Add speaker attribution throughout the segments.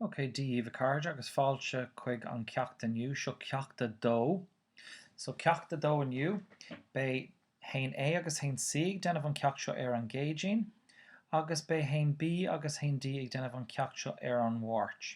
Speaker 1: Ok Dia daoibh a chairde agus fáilte chuig an ceacht inniu. Seo ceacht a dó. So ceacht a dó inniu, beidh a haon A agus a haon C ag déanamh an ceacht seo ar an gCéadaoin, agus beidh a haon B agus a haon D ag déanamh an ceacht seo ar an Mháirt.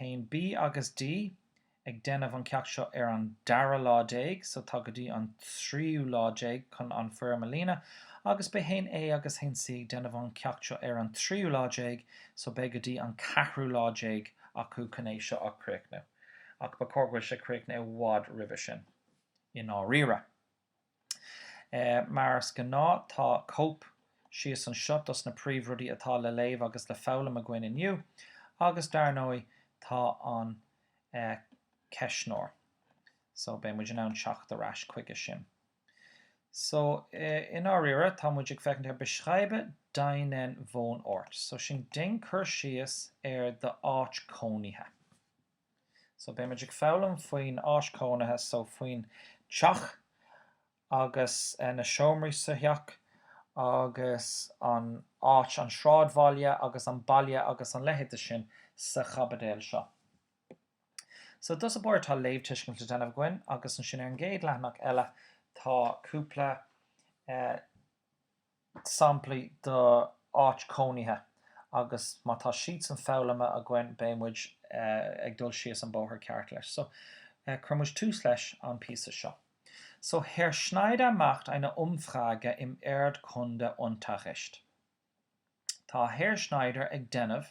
Speaker 1: 1B agus D, ag déanamh an ceacht seo ar an dara lá déag so tá go dtí an tríú lá déag chun an foirm a líonadh agus beidh 1A agus 1C ag déanamh an ceacht seo ar an tríú lá déag so beidh go dtí an ceathrú lá déag acu chun é seo a chríochnú ach ba chóir go bhfuil sé críochnaithe i bhfad roimhe sin i ndáiríre. Mar is gnáth tá cóip síos anseo dos na príomh rudaí atá le léamh agus le foghlaim againn inniu agus dar ndóigh tá an ceistneoir so beidh muid in ann teacht ar ais chuige sin. So i ndáiríre tá muid ag féachaint ar beschreibe deinen Wohnort so sin déan cur síos ar d'áit cónaithe. So beidh muid ag foghlaim faoin áit cónaithe, so faoin teach agus na seomraí sa theach agus an áit, an sráidbhaile agus an baile agus an leithéid de sin sa chaibidil seo. So dá bharr tá léamhtuiscint le déanamh againn agus ansin ar an gcéad leathanach eile tá cúpla eh, samplaí d'áit cónaithe agus má tá siadsan foghlamtha againn beidh muid ag dul síos an bóthar ceart leis. So, cuirfidh muid tús leis an píosa seo. So, Herr Schneider macht eine Umfrage im Erdkundeunterricht. Tá Herr Schneider ag déanamh.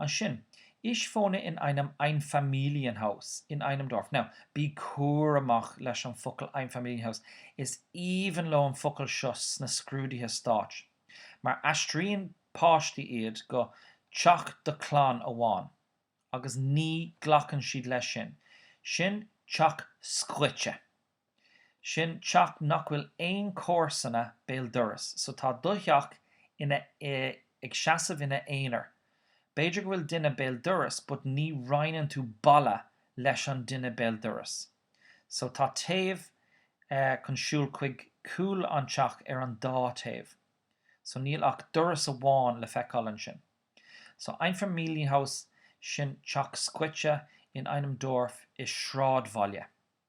Speaker 1: Ansin, ich wohne in einem Einfamilienhaus, in einem Dorf. Now, bí cúramach leis an focal Einfamilienhaus, is aoibhinn leo an focal seo sna scrúduithe stáit, mar aistríonn páistí iad go teach do chlann amháin, agus ní ghlacann siad leis sin. Sin teach scoite. Sin teach nach bhfuil aon comharsana béal dorais so tá do theach ina ag seasamh ina aonar. B'fhéidir go bhfuil duine béal dorais but ní roinneann tú balla leis an duine béal dorais. So tá taobh chun siúl chuig cúl an teach ar an dá taobh. So níl ach doras amháin le feiceáil ansin. So Einfamilienhaus, sin teach scoite in einem Dorf i sráidbhaile.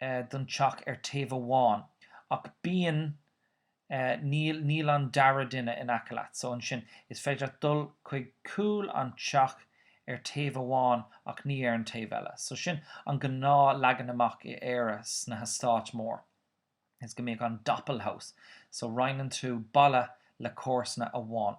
Speaker 1: eh, don teach ar taobh amháin ach bíonn eh, níl, níl an dara duine in aice leat so ansin is féidir leat dul chuig cúl an teach ar taobh amháin ach ní ar an taobh eile so sin an gnáth leagan amach i Éire sna heastáit mór is go mbíodh an Doppelhaus so roinneann tú balla le comharsana amháin.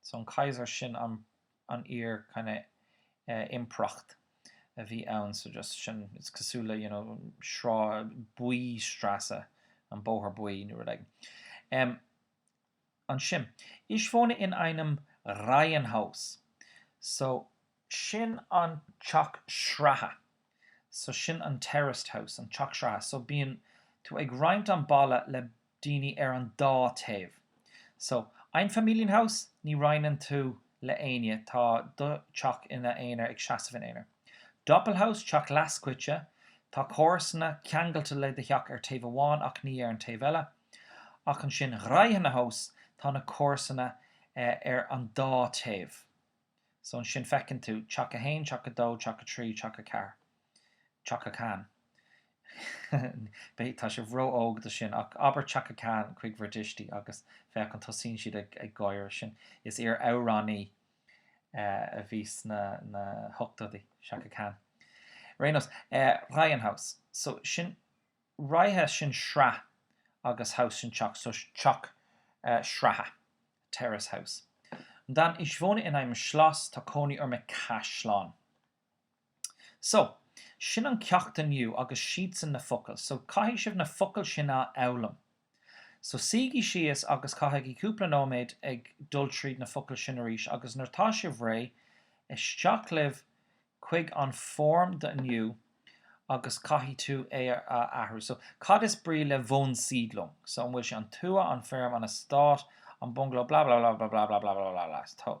Speaker 1: So an Kaiser sin an iar kind of impireacht a bhí ann. So just sin it's cosúil le you know sráid buí, Straße, an bóthar buí nó rud. Ansin. Ich wohne in einem Reihenhaus. So sin an teach sraithe so sin an terraced house an teach sraithe so bíonn tú ag roinnt an balla le daoine ar an dá taobh so Einfamilienhaus ní roinneann tú le éinne tá do teach ina aonar ag seasamh in aonar Doppelhaus teach leathscoite tá comharsana ceangailte le do theach ar taobh amháin ach ní ar an taobh eile ach ansin Reihenhaus tá na comharsana ar an dá taobh. So ansin feiceann tú teach a haon, teach a dó, teach a trí, teach a ceathar, teach a cean. Beidh, tá sibh ró-óg do sin, ach abair teach a cean chuig bhur dtuistí agus féach an tosaíonn siad ag, ag gáire. Sin, is iar amhránaí eh a bhí sna, na hochtóidí, Chaka Khan. Ar aon nós, eh Reihenhaus. So sin, Reihe sin sraith agus Haus sin teach so teach sraithe, terraced house. Und dann, ich wohne in einem Schloss tá cónaí orm i gcaisleán. So, sin an ceacht inniu agus siadsan na focail. So, caithfidh sibh na focail sin a fhoghlaim. So suígí síos agus caithigí cúpla nóiméad ag dul tríd na focail sin arís agus nuair atá sibh réidh, isteach libh chuig an form do inniu agus caithfidh tú é a athrú. So cad is brí le Wohnsiedlung? So an bhfuil sé an tuath, an feirm, an eastát, an bungaló, blablabla.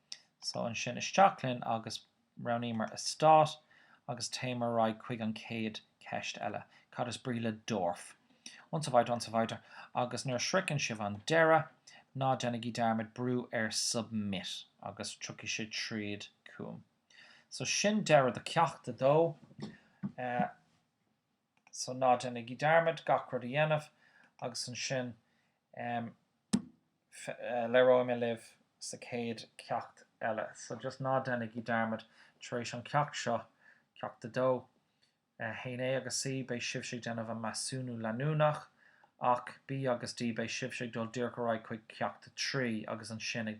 Speaker 1: So ansin isteach linn agus roghnaíomar eastát agus téimid ar aghaidh chuig an chéad cheist eile, cad is brí le Dorf? Und so weiter und so weiter agus nuair a shroicheann sibh an deireadh ná déanaigí dearmad brú ar Submit agus tiocfaidh sé tríd chugam. So sin deireadh do Cheacht 2. so ná déanaigí dearmad gach rud a dhéanamh agus ansin em labhróidh mé libh sa chéad cheacht eile so just ná déanaigí dearmad tar éis an cheacht seo, ceacht a dó, eh haon A agus C beidh sibhse ag déanamh an measúnú leanúnach ach B agus D beidh sibhse ag dul díreach ar aghaidh chuig ceacht a trí agus ansin ag